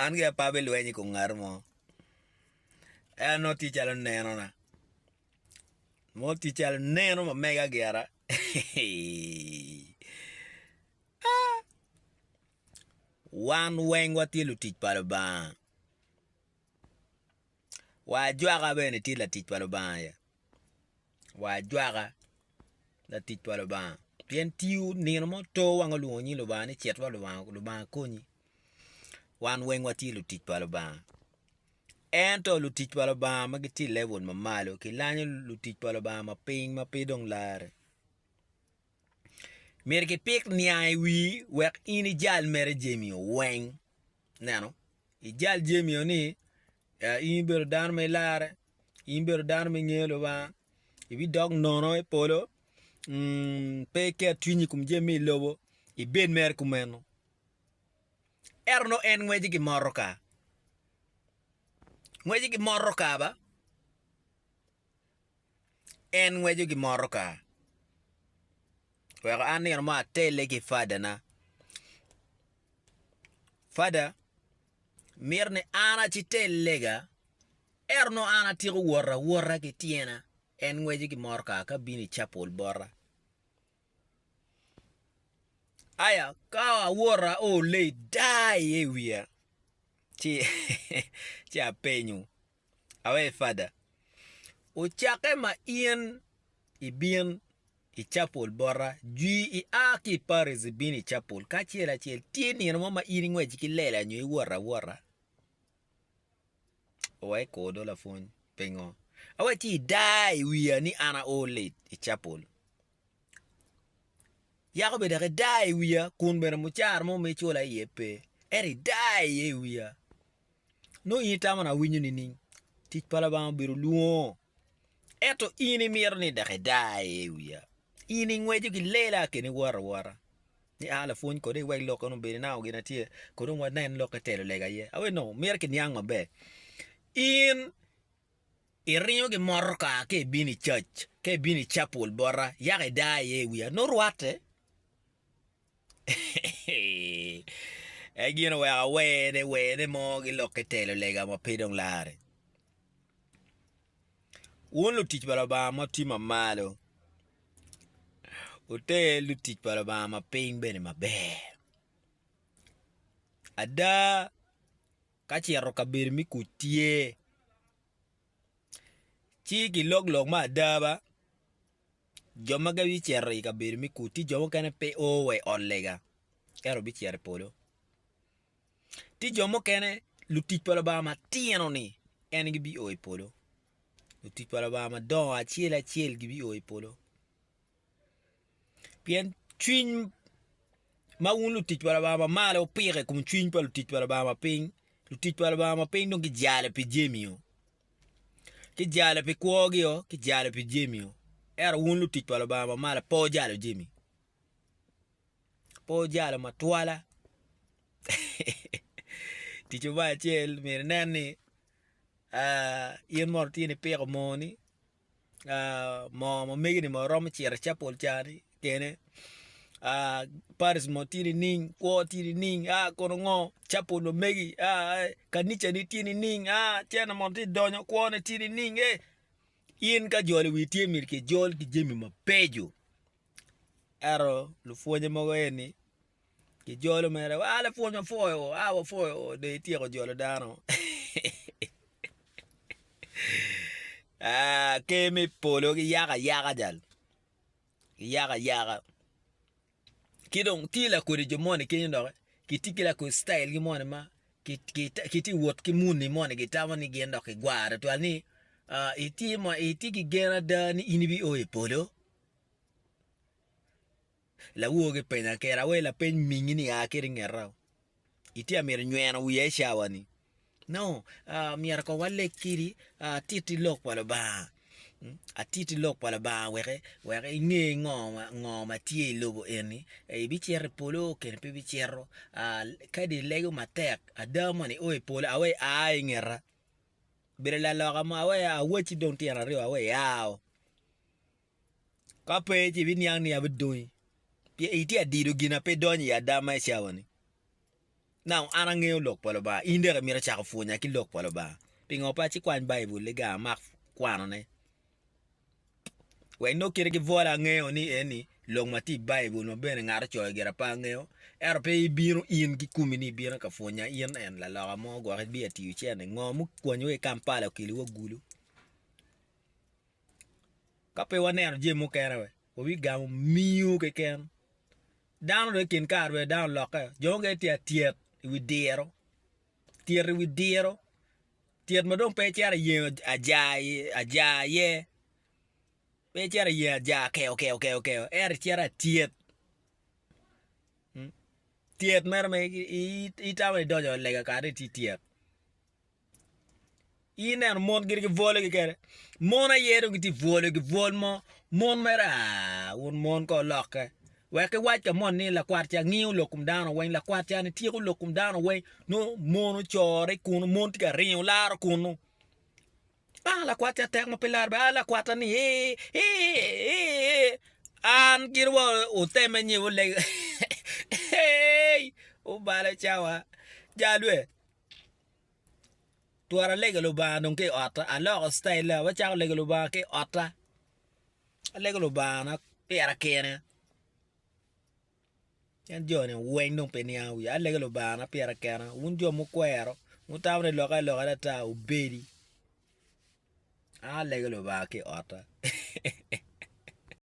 An gi apa bilweny i kom ngat mo, ea nongo tye calo nenona, nongo tye calo neno ma mega gira aa! Wan weng watye lutic pa Lubanga. Wa ajwaka bene tye latic pa Lubanga aye, wa ajwaka latic pa Lubanga pien tiyo nino mo to wang olwongo nying Lubanga ni cit wa Lubanga konyi wan weng watye lutic pa Lubanga ento lutic pa Lubanga ma gitye i level ma malo kilanyo lutic pa Lubanga ma piny ma pe dong larre myero kipik niang i wii wek in ijal mere jami-o weng Neno, ijal Jemi-o ni, In ibedo dano ma ilarre, in ibedo dano ma ingeyo Lubanga, ibidok nono i polo, pe iket cwinyi i kom jami me i lobo, ibed mere kumeno. Ento nongo en ngwece ki motoka, ngwece ki motoka ba, En ngweco ki motoka weko an nino mo atelle ki fadana, fada mito ni an aci tellega ento nongo an atyeko wot awota ki tyena en ngweco ki motoka ka bino i capol bota aya ka awot aole dar iye i wiya ci apenyo Awee Fada, ocakke ma in ibin i capol bota, jwi i a ki i Paris ibin i capol ka acel acel, tye nino mo ma in ingwec ki lela nyo iwot awota? Awee Kor do lapwony, pingo? Awee ci idaa i wiya ni an ao late i capol? Yako bene dok idaa i wiya kun bene mucara mo ma icula iye pe, ento idaa iye i wiya. nongo in itamo ni awinyo nining? Tic pa Lubanga obedo lwongo, ento in imito ni dok idaa iye i wiya, in ingweco ki lela keni iworo awora ni a lapwony kodi iwek lok eni obed inamo gin na tye kodi dong wanen lokke telo lega iye aye nongo mito kiniang maber, in iringo ki motoka ka ibino i cac ka ibino i capul bota yaka idaa iye i wiya nongo rwatte. En gin oweko awene wene mo gilokke telo lega ma pe dong lare. Wun lutic pa Lubanga ma wutye mamalo, wuter lutic pa Lubanga ma piny bene maber. Ada, ka cito kabedo me kuc tye, ci kilog lok me ada ba, Jo ma gibicito i kabedo me kut tye jo mukene ma pe o wa i ot lega ento bicito i polo. Tye jo mukene lutic pa Lubanga matino-ni en gibio i polo, lutic pa Lubanga madongo acel acel gibio i polo pien cwiny ma wun lutic pa Lubanga ma malo wupiko i kom cwiny pa lutic pa Lubanga ma piny, lutic pa Lubanga ma piny dong gijalo pi jami-o. ki jale pi kwogi-o, ki jale pi jami-o. Ento wun lutic pa Lubanga ma malo pe wujalo jami, pe wujalo matwala. Tico me acel myero inen ni in mono tye nipiko moo-ni. moo ma mege ni romo ciro i capol ca ni kene paris mo tye nining kwo tye nining a kono ngo capol ma megi a kanica ne tye nining a tyene mono tye donyo kwo ne tye nining ee in ka jolo i wi tye myero kijol ki jami mabeco ento lupwonye mogo eni Kijolo mere wa lapwony wapwoyo o, a wapwoyo o dong ityeko jolo dano. Ah, ker me polo giyako ayaka jal. Giyako ayaka. Ki dong tye lakodi jo moni kenyo doki, kitye ki lakodi citayilgi moni ma kitye wot ki muni moni gitamo ni gin dok gigwaro tutwal ni ah itye ma itye ki gen ada ni in ibio i polo? Lawogo gi penya kera awe lapeny mingi ni aa kiri ngeta o itye amito nyweno wiya i cawa ni no aa myero kong wa leg kiri aa atiti lok pa lubanga atiti lok pa lubanga weke weke inge ngo ngo ma tye i lobo eni ee ibi cito i polo keni pe ibi cito aa kadi ilego matek ada moni o i polo awe aa i ngeta bedo laloka mo awe awaci dong tyen aryo awe aa o Ka pe, ci ibiniang ni abidonyi, pien itye adido gin ma pe idonyo i ada ma i cawa-ni. Nano an angeyo Lok pa Lubanga, in dok imito cako pwonya ki Lok pa Lubanga? Pingo pe acikwany Baibul-liga amak kwanone? Wek inong kite ki bwola angeyo ni eni lok ma tye i Baibul ma bene ngat ocoyo gire pe angeyo, ento pe ibino in ki komi ni ibino ka pwonya in en laloka mo gwok ibiatiyo cente. Ngo mukwanyowa i Kampala okeliwa gulu? Ka pe waneno jami mukene we wabigamo miu keken. Dano dong i kin kare dong dano olokke, jo mukene tye atyet i wi diro, tyet i wi diro, tyet ma dong pe icito iyengo aja iye, pe icito iyengo aja kewkewo ento icito atyet, tyet mere ma itamo ni idonyo lega kadi itye tyet. in neno mon gin gibwolo kikene mon aye dong gitye bwolo gibwol mo mon mere aah wun mon kong olokke wek ki wac ka moni ni lakwat ca ngiyo lok kom dano weng lakwat cani tyeko lok kom dano weng nongo mon ocore kunu mon tye ka ringo laro kunu aah lakwat ca tek ma pe laro bene aah lakwat ca ni eeh eeh an gin wa oteme nyeyo lego eeii obalo cawa jalwe. twero alego lubanga dong ki i otta aloko citayil na acako lego lubanga ki i otta alego lubangana pira kine en joni weng dong pe niang wiya alego lubangana pira kena wun jo mukwero wutamo ni lokke aloka lata obedi an alego lubanga ki i otta.